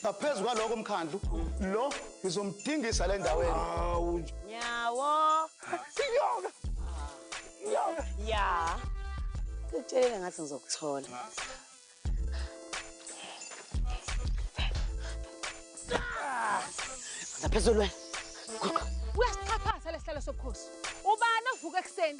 ngaphezu kwaloko mkhandlu lo ngizomdingisa le ndaweni awu nyawo siyoka siyoka ya ngitshelele ngathi ngizokuthola ngaphezulu wena uyasixhaphaza lesihlalo sobukhosi ubani ovuka ekuseni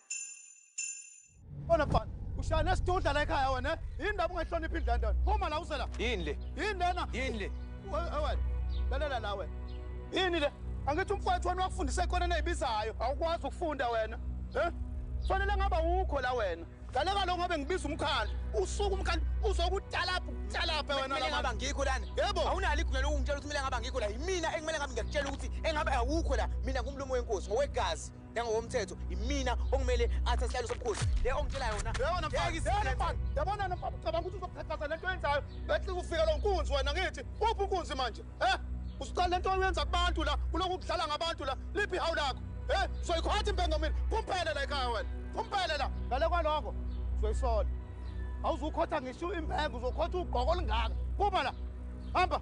Bona bhana, ushaya nesidudla la ekhaya wena. Yini ndaba ungayihloniphi indlu lento? Phuma la usela. Yini le? Yini lena? Yini le? Wena, lalela la wena. Yini le? Angithi umfowethu wena wakufundisa ikona neyibizayo. Awukwazi ukufunda wena. Eh? Fanele ngaba wukho la wena. Ngale kaloku ngabe ngibiza umkhandlu. Usuku umkhandlu uzokutalapha ukutalapha wena la. Ngaba ngikho lana. Yebo. Awunalo igunya lokungitshela ukuthi mina ngaba ngikho la. Yimina ekumele ngabe ngiyakutshela ukuthi engabe awukho la. Mina ngumlomo wenkosi ngokwegazi. Njengokomthetho imina okumele athe isihlalo sobukhosi. Le ongitshela yona. Yabona mfana. Yabona mfana. Yabona mfana. Cabanga ukuthi uzokhathaza lento yenzayo. Bethi ufika lo nkunzi wena ngithi. Uphi unkunzi manje? Eh? Usuqala lento oyenza kubantu la, kuloko ukudlala ngabantu la. Liphi hawu lakho? Eh? Soyikhotha impengo mina. Phumphele la ekhaya wena. Phumphele la. Ngale kwaloko. Soyisola. Awuzukhotha ngisho impengo, uzokhotha ugqoko olungaka. Phuma la. Hamba.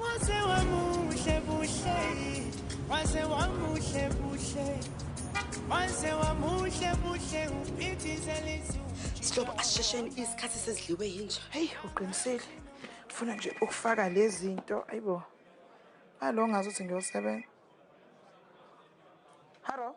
Wase wamuhle buhle Wase wamuhle buhle Wase wamuhle buhle uphithizela izulu Sihlobo asishesheni isikhathi sesidliwe yinja Hey uqinisile Funa nje ukufaka lezinto ayibo Alo ngazuthi ngiyosebenza Hello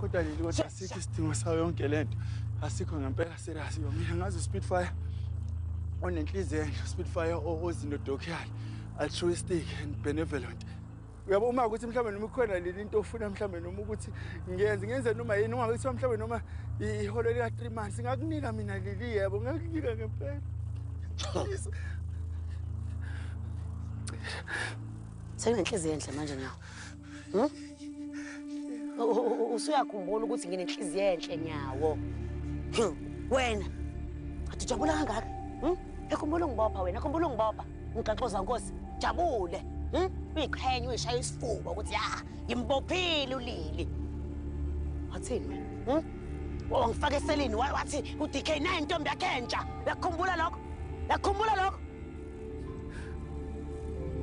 kodwa leli kodwa asikho isidingo sayo yonke le nto asikho ngempela serious yo mina ngazi uspitfire onenhliziyo enhle uspitfire ozinodokuyali altruistic and benevolent uyabo uma ukuthi mhlawumbe noma ikhona leli into ofuna mhlawumbe noma ukuthi ngiyenze ngenze noma yini uma kuthiwa mhlawumbe noma iholo lika-three months ngakunika mina leli yebo ngakunika ngempela sekunenhliziyo enhle manje nyawo Hmm? Usuyakhumbula ukuthi nginenhliziyo enhle nyawo. Hmm, wena. Athi jabula kangaka. Hmm? Ekhumbula ngibopha wena, khumbula ngibopha. Ngigaxoza nkosi, jabule. Hmm? Uyiqhenya uyishaya isifuba ukuthi ya, ngimbophile ulili. Wathini wena? Hmm? Wangifaka eselini wathi uDK naye intombi yakhe entsha. Yakhumbula lokho. Yakhumbula lokho.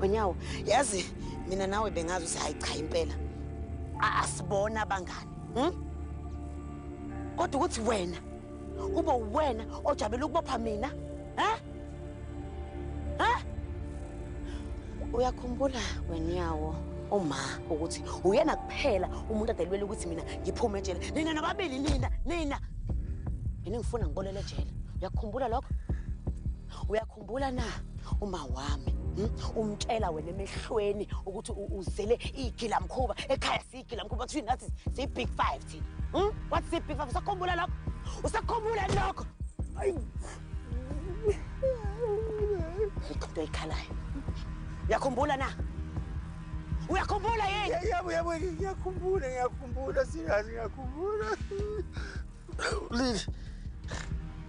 Wenyawo, yazi mina nawe bengazi ukuthi hayi cha impela asibona abangani. Hmm? Kodwa ukuthi wena kube uwena ojabela ukubopha mina, ha? Ha? Uyakhumbula wenyawo uma ukuthi uyena kuphela umuntu adelwela ukuthi mina ngiphume ejele. Nina nababili nina, nina. Mina ngifuna ngibolele ejele. Uyakhumbula lokho? Uyakhumbula Umbula na uma wami hmm? umtshela wena emehlweni ukuthi uzele igila mkhuba ekhaya sigila mkhuba kuthi nathi si big 5 thina hmm? what si big 5 usakhumbula lokho usakhumbula lokho ayi ikho ikhalayo yakhumbula na uyakhumbula yini yebo yebo ngiyakhumbula ngiyakhumbula sikazi ngiyakhumbula Lili.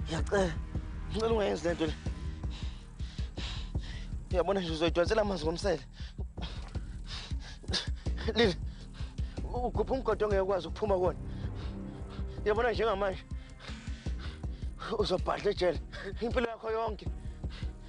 Ngiyacela. Ngicela ungayenzi lento le. Uyabona nje uzoyidonsela amanzi ngomsele. Lili. Ugubha umgodo ongeke ukwazi ukuphuma kuwona. Uyabona njengamanje uzobhadla ejele impilo yakho yonke.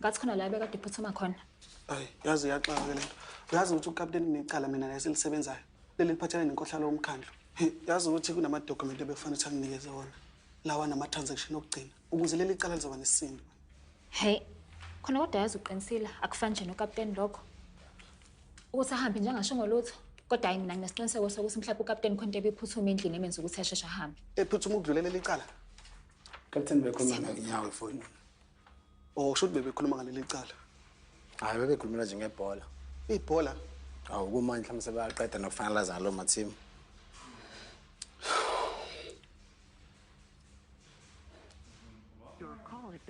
Ngathi khona la ebekade iphuthuma khona. Hayi, yazi iyaxaka ke lento. Uyazi ukuthi ukapteni kunecala mina naye silisebenzayo. Leli liphathelene nenkohlalo yomkhandlu. He, Yazi ukuthi kunamadokhumenti ebekufanele ukuthi anginikeze wona. Lawa nama-transaction okugcina ukuze leli cala lizoba nesisindo. Hey, khona kodwa yazi uqinisile akufani nje nokapteni lokho. Ukuthi ahambe nje angasho ngolutho. Kodwa hayi mina nginesiqiniseko sokuthi mhlawumbe ukapteni khona into ebiphuthume endlini emenza ukuthi asheshe ahambe. Ephuthuma ukudlulela leli cala. Captain bekhuluma ngakunyawo efonini. Oh, kusho ukuthi bebekhuluma ngaleli cala. Hayi bebekhulumela nje ngebhola. Ibhola? Awu kumanje mhlawumbe sebaqeda nokufanalaza ngalo mathimu.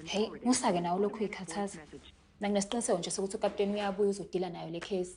Hey, musake nawe lokhu ikhathaza. Nanginesiqiniseko nje sokuthi ukapteni uyabuya uzodila nayo le case.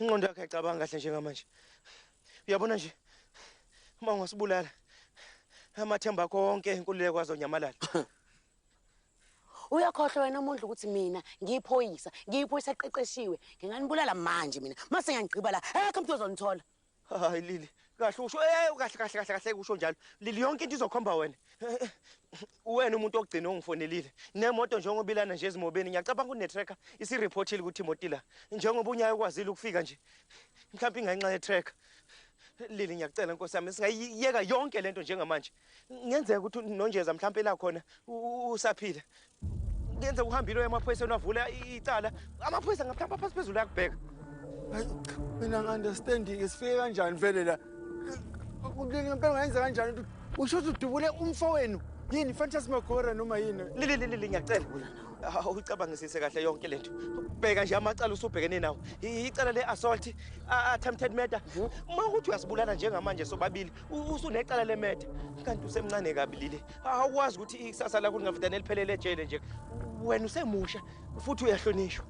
Ingqondo yakhe ayicabanga kahle njengamanje. Uyabona nje uma ungasibulala amathemba akho wonke enkululeko azonyamalala. Uyakhohlwa wena umuntu ukuthi mina ngiyiphoyisa, ngiyiphoyisa eqeqeshiwe. Nginganibulala manje mina. Mase ngiyangigqiba la. Ekho umuntu ozonithola. Hayi Lili, kahle usho eh kahle kahle kahle kahle usho njalo. Lili yonke into izokhomba wena. Uwena umuntu ogcina ongifonelile. Nemoto njengoba ilana nje ezimobeni ngiyacabanga une tracker isi reportile ukuthi imoto ila. Njengoba unyayo kwazile ukufika nje. Mhlawumbe ingenxa ye tracker. Lili ngiyacela Nkosi yami singayiyeka yonke lento njengamanje. Ngenzeka ukuthi uNonjeza mhlawumbe la khona usaphila. Ngenzeka uhambile emaphoyiseni wavula icala. Amaphoyisa ngaphamba phansi phezulu yakubheka. Hayi cha mina ngi-understanding sifike kanjani vele la. Ngempela ngayenza kanjani ukuthi usho ukuthi udubule umfowenu yini fantasmagora noma yini? Lili lili ngiyacela. awucabangisise kahle yonke lento bheka nje amacala usubhekene nawo icala le-assault attempted murder uma ukuthi uyasibulala njengamanje sobabili usunecala lemetha kanti usemncane kabi lile awukwazi ukuthi ikusasa lakho lingavidana eliphelele ejele nje wena usemusha futhi uyahlonishwa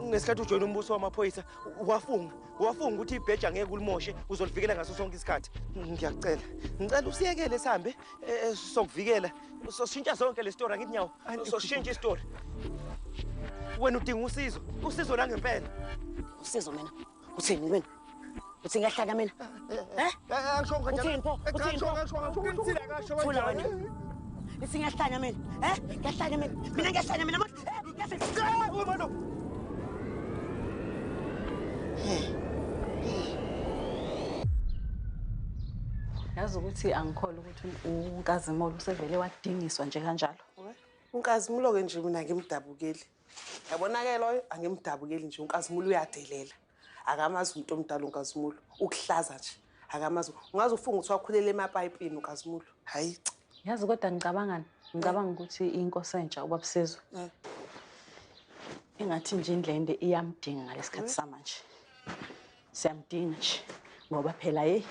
ngesikhathi ujoyina umbuso wamaphoyisa wafunga wafunga ukuthi ibheja ngeke ulimoshe uzolivikela ngaso sonke isikhathi ngiyacela ngicela usiyekele sihambe eh, eh, sokuvikela soshintsha sonke le story angithi nyawo soshintsha istory wena udinga usizo usizo langempela usizo mina uthini wena uthi ngiyahlanya mina eh uthini pho uthini pho thula wena ithi ngiyahlanya mina eh ngiyahlanya mina mina ngiyahlanya mina manje eh ngiyahlanya manje yazi ukuthi angikholwa ukuthi unkazimolo usevele wadingiswa nje kanjalo unkazimulo-ke nje mina ngimdabukeli Yabonakela oyo angimdabukeli nje uNkazimulo uyadelela. Akamazi umuntu omdala uNkazimulo. Ukuhlaza nje. Akamazi. Ungaze ufunge ukuthi wakhulele emapayipini uNkazimulo. Hayi. Yazi kodwa ngicabangani? Ngicabanga ukuthi inkosi entsha ubabusizwe. Eh. Ingathi nje indlende iyamdinga ngalesikhathi eh. samanje. Siyamdinga nje ngoba phela hey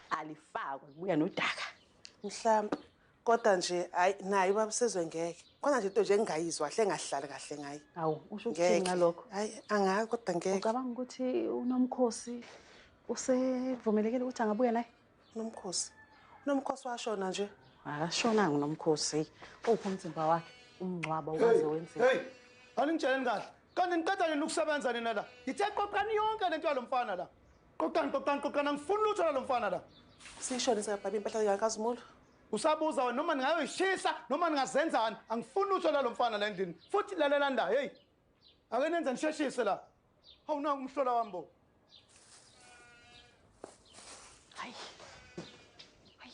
alifakwe kuya nodaka. Mhlawumbe Kodwa nje hayi naye ubaba usezwe ngeke. Khona nje into nje engingayizwa kahle engahlali kahle ngaye. Awu usho ukuthini Ngeke. ngalokho? Hayi angazi kodwa ngeke. Ucabanga ukuthi uNomkhosi usevumelekile ukuthi angabuya naye? Nomkhosi. Nomkhosi washona nje. Akashonanga uNomkhosi. Uphi umzimba wakhe? Umngcwaba ukaze wenzeka. Hey, aningitsheleni kahle. Kanti niqeda nini ukusebenza nina la? Ngithe qoqani yonke lento yalomfana la. Qoqani qoqani qoqani angifuni lutho lalo mfana la. Seyishone seyabhaba impahla yakazimulo. Usabuza wena noma ningayoyishisa noma ningazenzani angifuni lutho lalo mfana la endlini futhi lalela nda hey ake nenze nisheshise la hawu nangu umhlola wami bo hayi hayi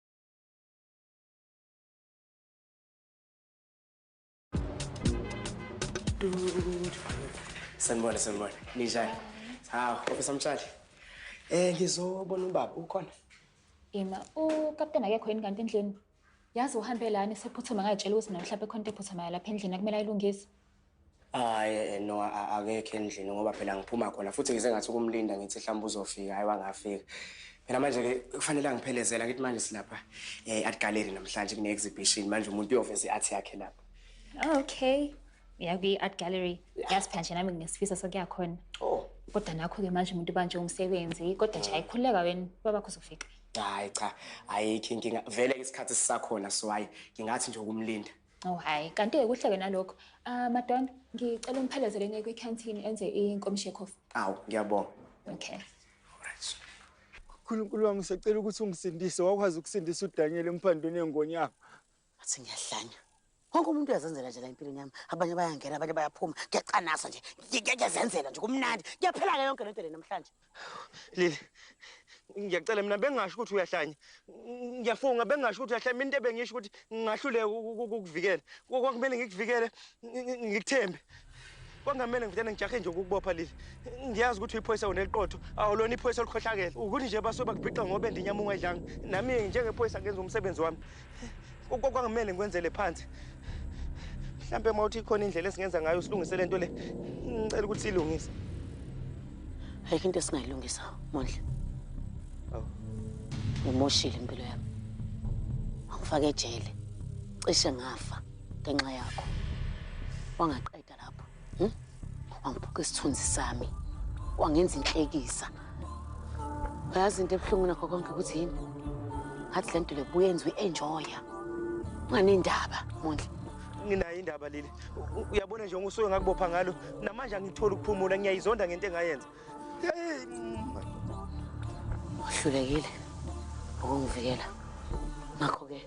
Sanibona, sanibona. Ninjani? Hawu, Professor Mtshali. Eh, ngizobona ubaba ukhona. Ima, ukapteni akekho yini kanti endlini? Yazi uhambe lani sephuthuma ngayitshela ukuthi mna mhlawumbe khona into ephuthumayo lapha endlini akumele ayilungise. Hayi eh, no akekho endlini ngoba phela ngiphuma khona futhi ngize ngathi ukumlinda ngithi mhlawumbe uzofika hayi wangafika. Phela manje ke kufanele angiphelezela ngithi manje silapha eh art gallery namhlanje kune exhibition manje umuntu uyoveza iart yakhe lapha. Okay. Yakuyi art gallery. Yasiphela nje nami ngisifisa sokuya khona. Oh. Kodwa nakho ke manje umuntu banje umsebenzi kodwa nje ayikhuleka wena baba kuzofika. Hayi cha ayikho inkinga vele isikhathi sisakhona so hayi ngingathi nje ukumlinda. Oh hayi, kanti kuhleke nalokho. Ah madonna, ngicela umphelezele ne kwi canteen enze inkomishi coffee. Awu, ngiyabonga. Okay. Alright. Nkulunkulu wami sicela ukuthi ungisindise wakwazi ukusindisa uDaniel emphandweni engonyama. Athi ngiyahlanya. Wonke umuntu uyazenzela nje la empilweni yami. Abanye bayangena, abanye bayaphuma. Ngiyacanasa nje. Ngiyazenzela nje kumnandi. Ngiyaphela ke yonke lento le namhlanje. Lili ngiyacela mina bengasho ukuthi uyahlanya ngiyafunga bengasho ukuthi uyahlanya mina into ebengisho ukuthi ngingahluleka ukukuvikela kwakumele ngikuvikele ngikuthembe kwangamele ngivutane ngijahe nje ukukubopha leli ngiyazi ukuthi uyiphoyisa wena eliqotho awulona iphoyisa olukhohlakele ukuthi nje basuke bakubhixa ngoba endinyamunga edlanga nami-ke njengephoyisa ngenza umsebenzi wami Kwakumele ngikwenzele phansi. Mhlampe uma uthi ikhona indlela esingenza ngayo silungise lento le. Ngicela ukuthi silungise. Ayikho into esingayilungisa, Mondle. Awu. Ngimoshile impilo yami. Angifake ejele. Cishe ngafa ngenxa yakho. Wangaqeda lapho hmm? wangiphuka isithunzi sami wangenza inhlekisa uyazi into ebuhlungu nakho konke ukuthi yini ngathi le nto le buyenza uyi-enjoya unganendaba mondla nginayo indaba leli uyabona nje ngosuke ngakubopha ngalo namanje angitholi ukuphumula ngiyayizonda ngento engayenza uhlulekile ukungivikela ngakho-ke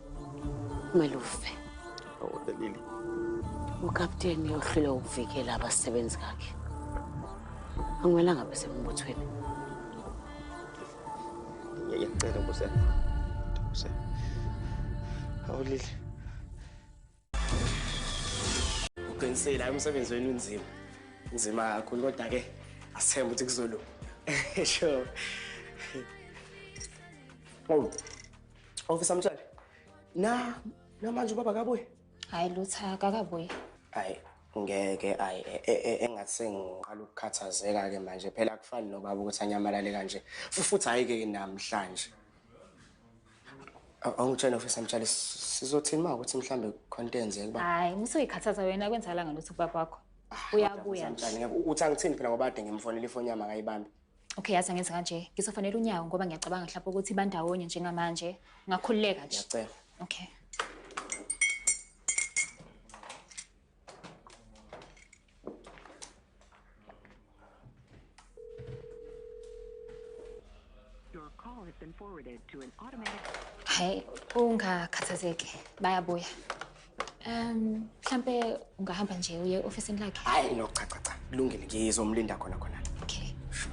kumele ufe awudelile ukapteni uhlule ukuvikela abasebenzi kakhe angimelanga besembuthweni ngiyacela kusenza awulile uqinisile hayi umsebenzi wenu unzima nzima kakhulu kodwa-ke asithembe ukuthi kuzolunga sure oh ofisa mthwele na namanje ubaba kabuye hayi lutha akakabuye hayi ngeke ayi e, e, e, engathi sengiqala ukukhathazeka-ke manje phela kufani nobaba ukuthi anyamalale kanje futhi hhayi-ke namhlanje awungitshela ofisa mtshale sizothini ma ukuthi mhlambe khona into eyenzeka uba hayi musoyikhathaza wena kwenzakalanga lutho kubaba wakho ah, uyabuya mtshale uthi angithini phela ngoba ade ngimfonela ifoni yami akayibambi okay yazi angenza kanje ngizofanela unyawo ngoba ngiyacabanga mhlawumbe ukuthi bandawonye njengamanje ungakhululeka nje ngiyacela okay Your call has been forwarded to an automatic Hayi ungakhathazeki bayabuya. Um mhlambe ungahamba nje uye officeini lakhe. Hayi no cha cha cha. Kulungile ngizomlinda khona khona. Okay. Sure.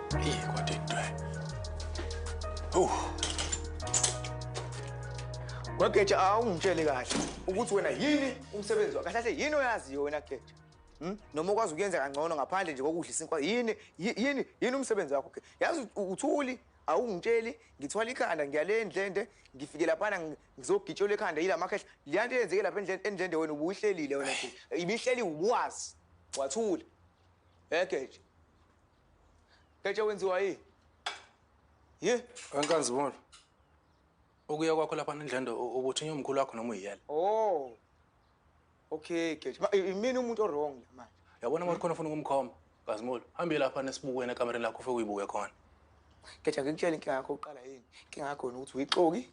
Hey, what did I? Oh. Wageja awungitshele kahle ukuthi wena yini umsebenzi wakhe. Kahle yini oyaziyo wena Geja? Hmm? Noma ukwazi ukuyenza kangcono ngaphandle nje kokudla isinkwa yini yini yini umsebenzi wakho? Yazi uthuli awungitsheli ngithwala ikhanda ngiyale endlende ngifike laphana ngizogitshola ekhanda yila makhehla leya nto eyenzeke lapha endlende wena ubuyihlelile wena ibihleli ubuwazi wathula egeje Ketshe wenziwa yini? Ye, wenkanzi bona. Ukuya kwakho lapha nendlendo ukuthi nyomkhulu wakho noma uyiyela. Oh. Okay, Ketshe. Imini umuntu owrong manje. Yabona manje khona ufuna ukumkhomba. Kazimolo, hambe lapha nesibukweni ekamereni lakho ufike uyibuke khona. Ketshe ngikutshela inkinga yakho uqala yini? Inkinga yakho ukuthi uyixoki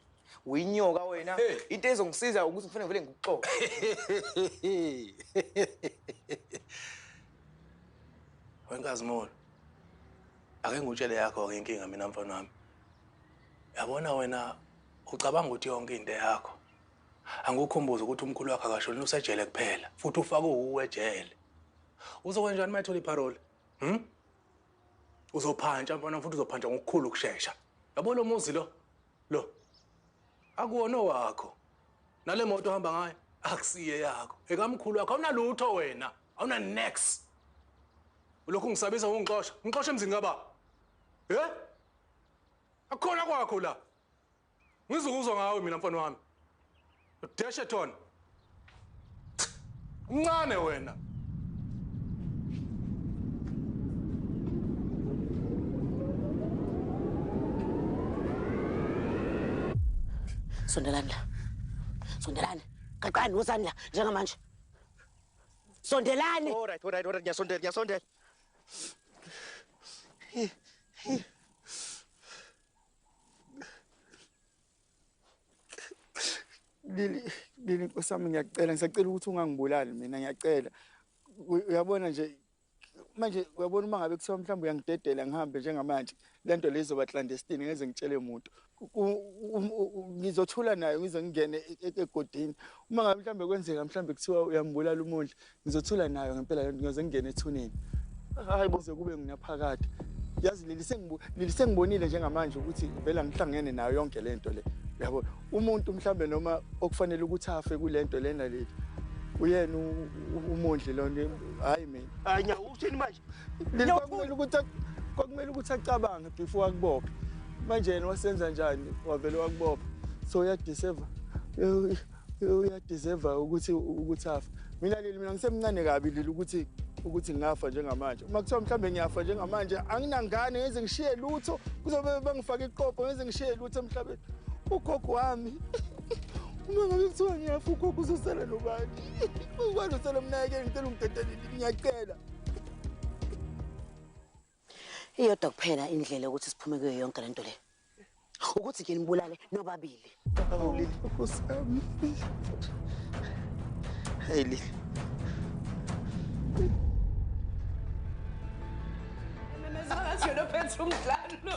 Uyinyoka wena. Into ezongisiza ukuthi ngifune vele ngikuxoxe. Wenkazi Molo. Ake ngutshele yakho ke inkinga mina mfana wami. Yabona wena ucabanga ukuthi yonke into yakho. Angikukhumbuza ukuthi umkhulu wakhe akashoni usejele kuphela futhi ufake uwe ejele. Uzokwenjani uma ethola iparole? Hm? Uzophantsha mfana futhi uzophantsha ngokukhulu ukushesha. Yabo lo muzi lo Lo akuwona owakho. Nale moto ohamba ngayo akusiye yakho. Ekamkhulu wakho awunalutho wena. Awuna next. Ulokhu ngisabisa ngongixosha. Ngixosha emzini kababa. Eh? Akukhona kwakho la. Ngizokuzwa ngawe mina mfana wami. Deshe Thon. Mncane wena. Sondelani la. Sondelani. Qaqani wosani la njengamanje. Sondelani. All right, all right, all right. Ngiyasondela, ngiyasondela. Lili Lili nkosi yami ngiyacela ngisacela ukuthi ungangibulali mina ngiyacela uyabona nje manje uyabona uma ngabe kuthiwa mhlawumbe uyangidedela ngihambe njengamanje le nto le izoba clandestine ngeze ngitshele muntu ngizothula nayo ngize ngingene e-, e-, egodini uma ngabe mhlawumbe kwenzeka mhlawumbe kuthiwa uyangibulala umondla Ngizothula nayo ngempela lento ngiyoze ngingene ethuneni. Hayi boze kube nginaphakade. Yazi leli sengibu leli sengibonile njengamanje ukuthi vela ngihlangene nayo yonke lento le. Yabo umuntu mhlambe noma okufanele ukuthi afe kulento lena leli. Uyena umondli lonto hayi mina. Hayi nya uthini manje? Leli kwakumele ukuthi kwakumele ukuthi acabange before akubophe. Manje yena wasenza njani wavele wakubopha. So uyadeserve. uyadeserve ukuthi ukuthi afa mina leli mina ngisemncane kabi leli ukuthi ukuthi ngingafa njengamanje uma kuthiwa mhlawumbe ngiyafa njengamanje anginangane ngeze ngishiye lutho kuzobe bangifake iqoqo ngeze ngishiye lutho emhlabeni ugogo wami uma ngabe kuthiwa ngiyafa ugogo uzosala nobani ubani usala mnayekeni ngicela ungidedelile ngiyacela Iyodwa kuphela indlela ukuthi siphume kuyo yonke lento le. Ukuthi ke nibulale nobabili. Awulile Nkosi yami. Hey Lili. Mezangathi yona phethe umdlalo.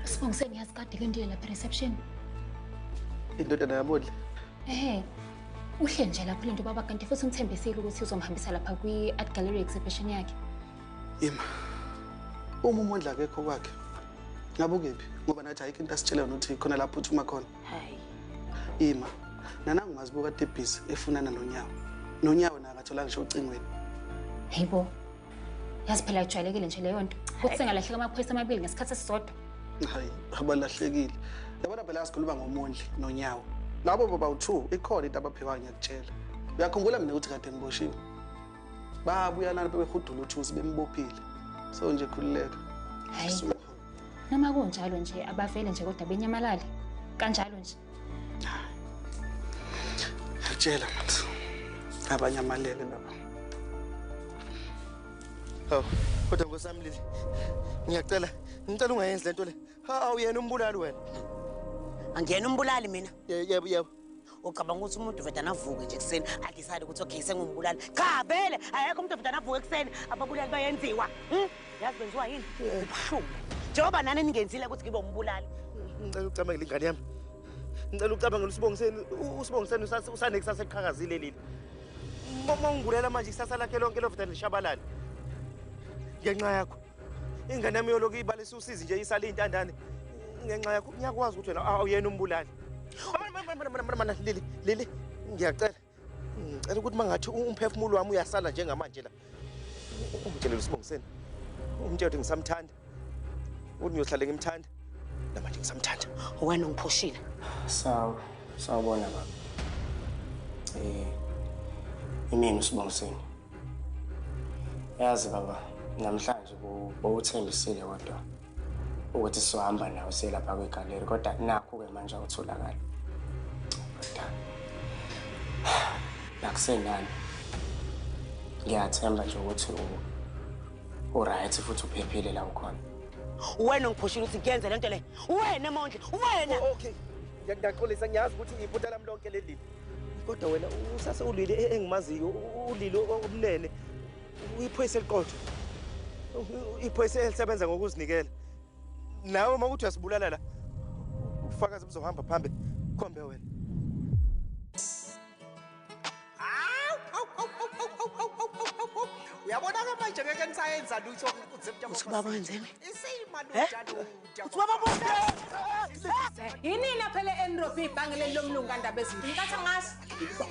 Sibongise ngiyazi kade ke ndiye lapha reception. Indodana yamodla. Ehhe. Uhle nje lapho lento baba kanti futhi ungithembisile ukuthi uzomhambisa lapha kwi-art gallery exhibition yakhe. Ima. Uma umondla akekho kwakhe. Ngabe ukephi? Ngoba nathi ayikho into asitshela yona ukuthi khona lapho uthuma khona. Hayi. Ima. Nanangu mazibuka tebhizi efunana nonyawo. Nonyawo naye akathola ngisho ucingweni. Hayibo. Yazi phela ijwayelekile nje leyo nto. Ukuthi sengalahleka amaphoyisa amabili ngesikhathi esisodwa. Hayi, abalahlekile. Yabona phela asikhuluma ngomondli nonyawo. Labo baba u2 ikhona into abaphiwayo ngiyakutshela. Uyakhumbula mina ukuthi kade ngiboshiwe. babuya lana bebehudula uthusi bembophile so nje khululeka hayi noma kunjalo nje abavele nje kodwa benyamalale kanjalo nje ngiyakutshela manje abanye amalele laba hawu kodwa nkosami lili ngiyacela ngicela ungayenzi le nto le hawu yena umbulali wena angiyena umbulali mina yebo yebo ucabanga ukuthi umuntu vedane avuke nje ekuseni adecide ukuthi okay sengumbulali cha vele ayekho umuntu vedane avuke ekuseni ababulali bayenziwa hmm? yazi benziwa yini ubuhlungu njengoba nani ningenzile ukuthi ngibe umbulali ngicela ucabangele ingane yami ngicela ucabangele usibongiseni usibongiseni usanekusasa eliqhakazile leli uma ungibulela manje ikusasa lakhe lonke lovedane lishabalale ngenxa yakho ingane yami yoloku ibalisa usizi nje isale iy'ntandane ngenxa yakho ngiyakwazi ukuthi wena awuyena umbulali mana lili lili ngiyacela ngicela ukuthi uma ngathi umphefumulo wami uyasala njengamanje la umtshelele usibongiseni umtshela ukuthi ngisamthanda ukuthi ngiyohlale ngimthanda namanje ngisamthanda wena ungiphushile sawu sawubona baba um imini usibongiseni yazi baba namhlanje bowuthembisile kodwa ukuthi sizohamba nawo siyelapha kwigaleri kodwa nakhu-ke manje awutholakali kodwa nakusenani ngiyathemba nje ukuthi uright futhi uphephile la ukhona wena ongiphushile ukuthi ngiyenze le nto le wena mondle wena okay ngiyaxolisa ngiyazi ukuthi iphutha lami lonke leli kodwa wena usase ulili e-, engimaziyo ulili obunene uyiphoyisa eliqotho iphoyisa elisebenza ngokuzinikela nawe uma ukuthi uyasibulala la ufakazi buzohamba phambi khombe wena uyabona-ke manje ngeke nisayenza lutho ukuthi baba wenzeni yinini aphele enrob ibhange leli lomlungu kandaba ezinto nkathi ngaso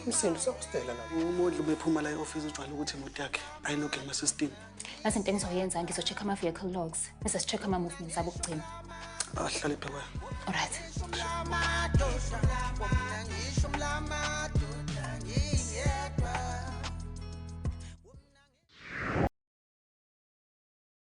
umsindo usakustela la umodli ubephuma la e-ofisi ujwayele ukuthi imoto yakhe ayinoke ema-system nazi into engizoyenza ngizo-check ama-vehicle logs bese si-check ama-movements abo okugcina ahlale phekwayo olright